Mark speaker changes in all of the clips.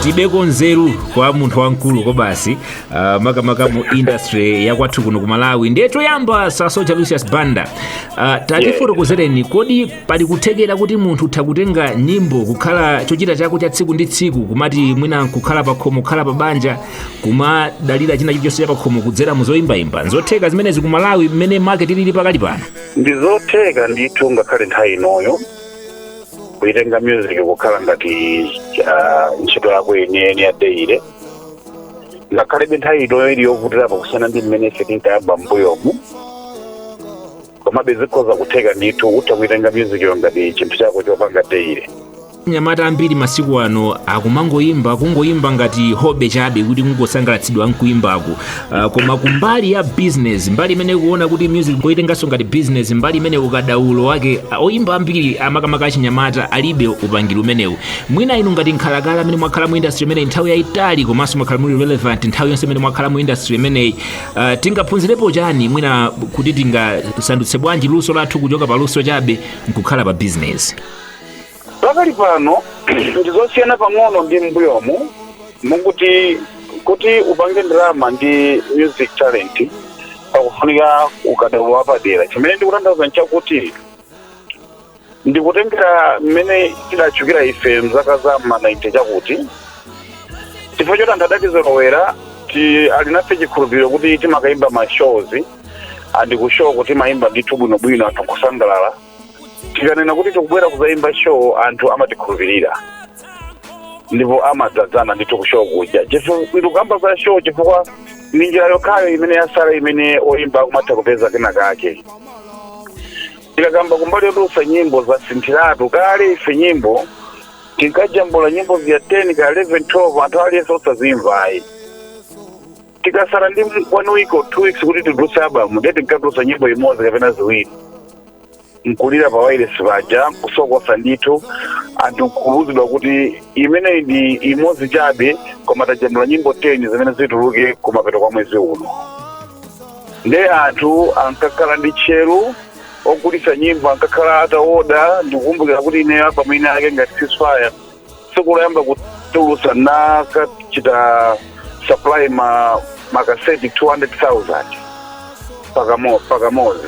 Speaker 1: tibeko nzeru kwa munthu wamkulu kwabasi uh, makamaka mu industry ya kwathu kuno ku malawi ndiye choyamba soja lucius banda uh, tatifotokozereni kodi pali kuthekera kuti munthu utha kutenga nyimbo kukhala chochita chako cha tsiku ndi tsiku kumati mwina nkukhala pakhomo kukhala pa banja kumadalira china chilichonse chapakhomo kudzera mu zoyimbayimba nzotheka zimenezi ku malawi mmene market ilili pakali pano ndizotheka ndithu ngakhale nthawi inoyo kuitenga music kukhala ngati ah, ntchito yako yeniyeni ya daily ngakhalebe nthawi inoyo ili yovutirapo kusiyana ndi mmene ife tinkayamba m'mbuyomu komabe zikhoza kutheka ndithu utha kuitenga music yo ngati chinthu chako chopanga daily anyamata ambiri masiku ano akumangoyimba kungoyimba ngati hobby chabe kuti kungosangalatsidwa nkuyimbako uh, koma kumbali ya business mbali imene tikuona kuti music koitenganso ngati business mbali imene ukadaulo wake uh, oyimba ambiri makamaka achinyamata alibe upangiri umenewu mwina inu ngati nkhalakale amene mwakhala mu industry imeneyi nthawi yayitali komanso mwakhala muli relevant nthawi yonse imene mwakhala mu industry imeneyi Uh, tingaphunzirepo chani mwina kuti tingasandutse bwanji luso lathu kuchoka pa luso chabe nkukhala pa bizinesi pakali pano ndizosiyana pang'ono ndi m'mbuyomu moti kuti upange ndalama ndi music talent pakufunika ukadaulo wapadera chimene ndikutanthauza nchakuti ndikutengera mmene tidatchukira ife mzaka za ma 90 chakuti chifukwa choti anthu adatizolowera ali nafe chikhulupiriro kuti timakayimba ma shows andi ku show ko timayimba ndithu bwinobwino anthu kusangalala tikanena kuti tikubwera kuzayimba show anthu amatikhulupirira ndipo amadzadzana ndithu ku show kuja ndikukamba za show chifukwa ndi njira yokhayo imene yasala imene oyimba akumatha kupeza kena kake tikakamba kumbali yotulutsa nyimbo zasinthiratu kale ife nyimbo tinkajambula nyimbo zija 10 kaya 11 12 anthu aliyense osazimva ayi tikasala ndi one week or two weeks kuti titulutse album ndiye tinkatulutsa nyimbo imodzi kapena ziwiri nkulira pa wailesi paja kusokosa ndithu anthu nkuuzidwa kuti imeneyi ndi imodzi chabe koma tajambula nyimbo 10 zimene zituluke kumapeto kwa mwezi uno Nde anthu ankakhala ndi tcheru ogulitsa nyimbo ankakhala ataoda ndikukumbukira kuti ineyo album ina yake ngati ceasefire tsiku loyamba kutulusa ndinakachita supply makaseti 200000 pakamo- pakamozi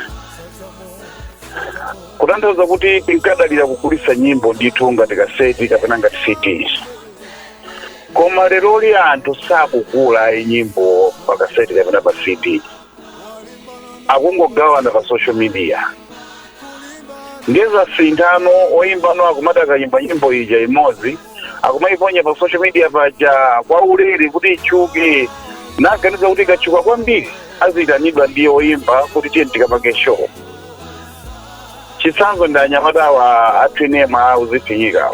Speaker 1: kutanthauza kuti tinkadalira kugulitsa nyimbo ndithu ngati kaseti kapena ngati cds koma leroli anthu sakugula ayi nyimbo pa kaseti kapena pa cd akungogawana pa social media ndiye zasinthano oyimbano akumati akayimba nyimbo ija imodzi akumayiponya pa social media paja kwa ulere kuti itchuke naganiza kuti ikatchuka kwambiri aziyitanidwa ndi oyimba kuti tiye tikapange show chitsanzo ndi anyamata awa athu nyimbo ya uzifinyika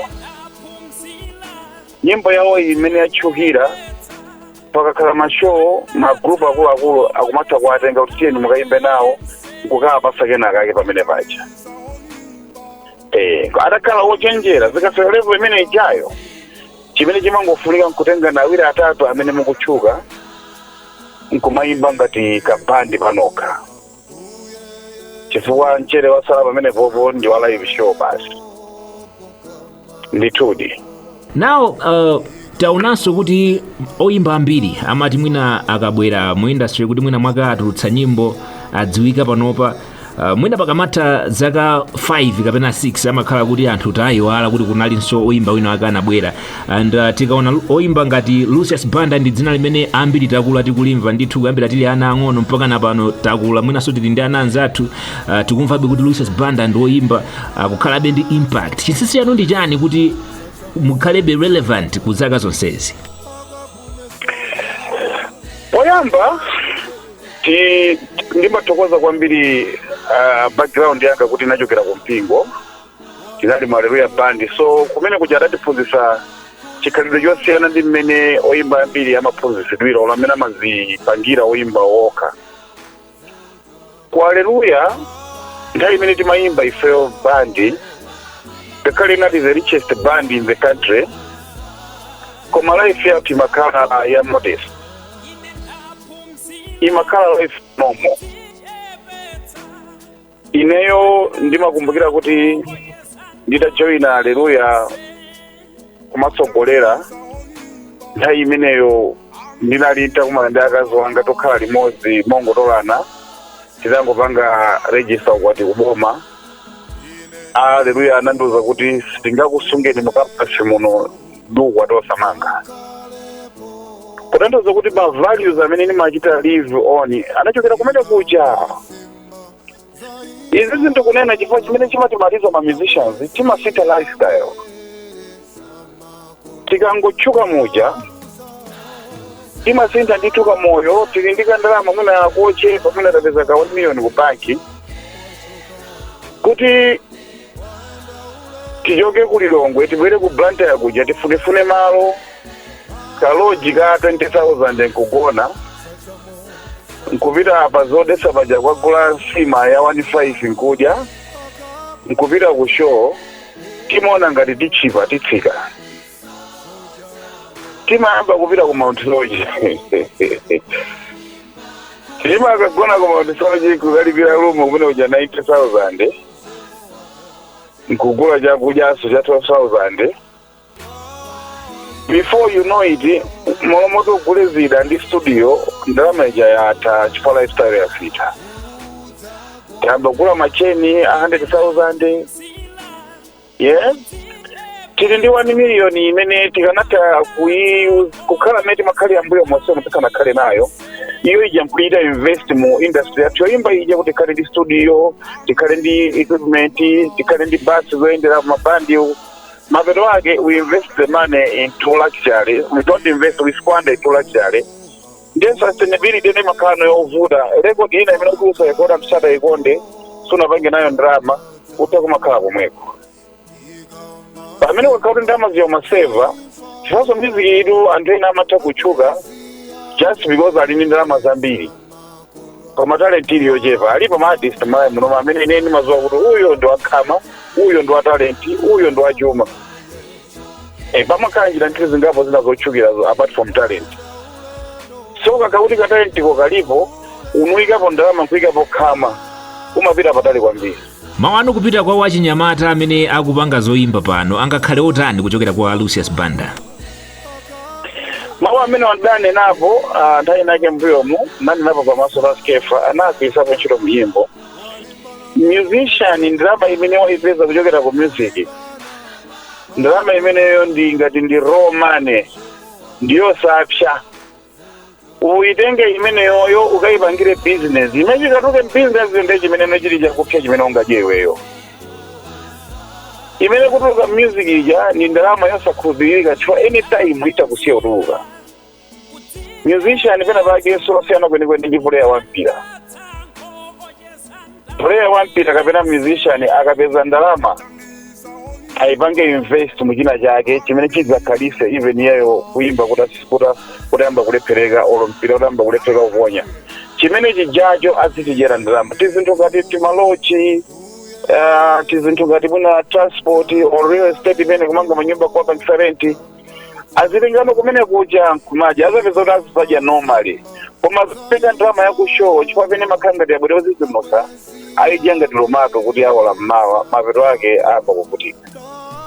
Speaker 1: nyimbo yawo iyi imene yatchukira pakakhala mashow magrupu akuluakulu akumatha kuwatenga kuti tiyeni mukayimbe nawo nkukawapasa kenakake pamene paja Eh, atakhala wochenjera zikafika level imene ijayo chimene chimangofunika nkutengana awiri atatu amene mukutchuka nkumayimba ngati kabandi panokha chifukwa mchere wasala pamenepopo ndi wa live show basi ndithudi now uh, taonanso kuti oyimba ambiri amati mwina akabwera mu industry kuti mwina mwaka atulutsa nyimbo adziwika panopa uh, mwina pakamatha zaka 5 kapena 6 amakhala kuti anthu tayiwala kuti kunalinso oyimba wina wake anabwera and uh, tikaona lu- oyimba ngati lucius banda ndi dzina limene ambiri takula tikulimva ndithu kuyambira tili ana ang'ono mpaka na pano takula mwinanso tili ndi ana athu uh, tikumvabe kuti lucius banda ndi oyimba uh, kukhalabe ndi impact chinsinsi chanu ndi chani kuti mukhalebe relevant ku zaka zonsezi poyamba ti- ndimathokoza kwambiri uh, background yanga kuti inachokera ku mpingo tinali mu aleluya band so kumene kuja adatiphunzitsa chikhalidwe chosiyana ndi mmene oyimba ambiri amaphunzitsidwira olo mmene amazipangira oyimba okha ku aleluya nthawi imene timayimba ifeyo bandi ngakhale inali the richest band in the country koma life yathu imakhala ya modest imakhala life normal ineyo ndimakumbukira kuti nditajoyina aleluya kumatsogolera nthawi imeneyo ndinali nditakumana ndi akazi wanga tokhala limodzi mongotolana titangopanga regista ukwati kuboma aleluya anandiuza kuti sitingakusungeni mukampasi muno ndi ukwati osamanga kutanthauza kuti ma values amene ndimachita live on anachokera kumene kuja izi ndikunena chifukwa chimene chimatimaliza ma musicians timasintha lifestyle tikangotchuka muja timasintha ndithu kamoyo tili ndi kandalama mwina kakuchepa mwina tapeza ka 1 million ku banki kuti tichoke ku lilongwe tibwere ku blantyre kuja tifunefune malo kaloji ka 20000 nkugona nkupita apa zodesa paja kukagula nsima ya 15 nkudya nkupita ku show timaona ngati titchipa titsika timayamba kupita ku mount soche timakagona ku mount soche nkukalipira rumu kumene kuja 90000 nkugula chakudyanso cha 12000 before you know it malo moti ugule zida ndi studio ndalama ija yatha chifukwa lifestyle yasintha tiyamba kugula matcheni a 100000 yes tili ndi 1 million imene tikanatha kuyi- kukhala mmene timakhalira mbuyo monse omwe tikanakhale nayo iyo ija nkuchita invest mu industry yathu yoyimba ija kuti tikhale ndi studio tikhale ndi equipment tikhale ndi basi zoyenderako mabandi mapeto ake we invest the money into luxury we don't invest we squander into luxury ndiye sustainability nde imakhala nayo yovuta record ina imene kuti usarekode anthu asadaikonde sunapange nayo ndalama utha kumakhala komweko pamene wakhala kuti ndalama zijazo umaseva chifanso music-tu anthu ena amatha kutchuka just because ali ndi ndalama zambiri koma talent ili yochepa alipo ma artist malawi munomu amene ine ndimaziwa kuti uyo ndi wakhama uyo ndi wa talent uyo ndi wachuma e, pamakhala njira njira zingapo zina zotchukira zo- apart from talent so kakakhala kuti ka talent ko kalipo nkuyikapo ndalama nkuyikapo khama umapita patali kwambiri mawu anu kupita kwa achinyamata amene akupanga zoyimba pano angakhale otani kuchokera kwa lucius banda mawu amene ndidanena apo ah, nthawi inake mbuyomu nanenapo pamaso pa skefa anagwiritsapo ntchito mnyimbo musician ndalama imene waipeza kuchokera ku music ndalama imeneyo ndi ngati ndi raw money ndiyosapsya uyitenge imeneyoyo ukayipangire business chimene chikatuluke mu business nde chimeneno chili chakupsya chimene ungadye iweyo imene ikutuluka mu music ija ndi ndalama yosakhulupirika chifukwa anytime itha kusiya kutuluka musician pena pake sasiyana kwenikweni ndi puleya wa mpira puleya wa mpira kapena musician akapeza ndalama ayipange invest mu china chake chimene chidzakhalise even iyeyo kuyimba kutas- kuta- kutayamba kulephereka olo mpira kutayamba kulephereka kuponya chimene chijacho azichidyera ndalama tizinthu ngati timaloji ah, tizinthu ngati mwina transport or real estate imene kumanga manyumba kuwapangisa renti azilingano kumene kuja n'kumadya azapeze kuti azizadya normally koma akapeza ndalama ya ku show chifukwa pena amakhala ngati abwere ozizimutsa ayidya ngati lomati kuti awola m'mawa mapeto ake ayamba kuvutika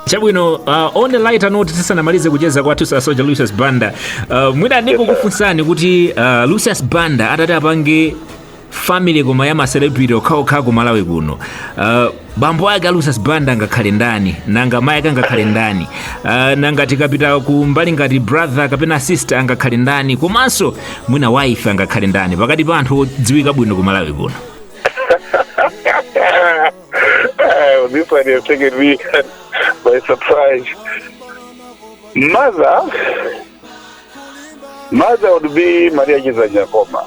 Speaker 1: chabwino uh, on a lighter note tisanamalize kucheza kwathu sir soja lucius banda uh, mwina ndikukufunsani kuti uh, lucius banda atati apange family koma ya macelebrity okhaokha ku malawi kuno uh, bambo ake a lucius banda angakhale ndani nanga mayi ake angakhale ndani uh, nanga tikapita ku mbali ngati brother kapena sister angakhale ndani komanso mwina wife angakhale ndani pakati pa anthu odziwika bwino ku malawi kuno Oh, this one has taken me by surprise. Mother, mother would be Maria Chidzanja Nkhoma.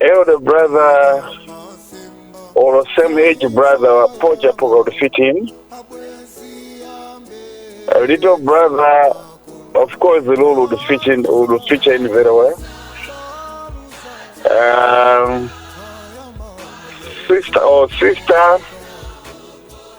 Speaker 1: elder brother or same age brother wa pocha poka would fit him a little brother of course lulu would fit in would fit in very well um, sister or sister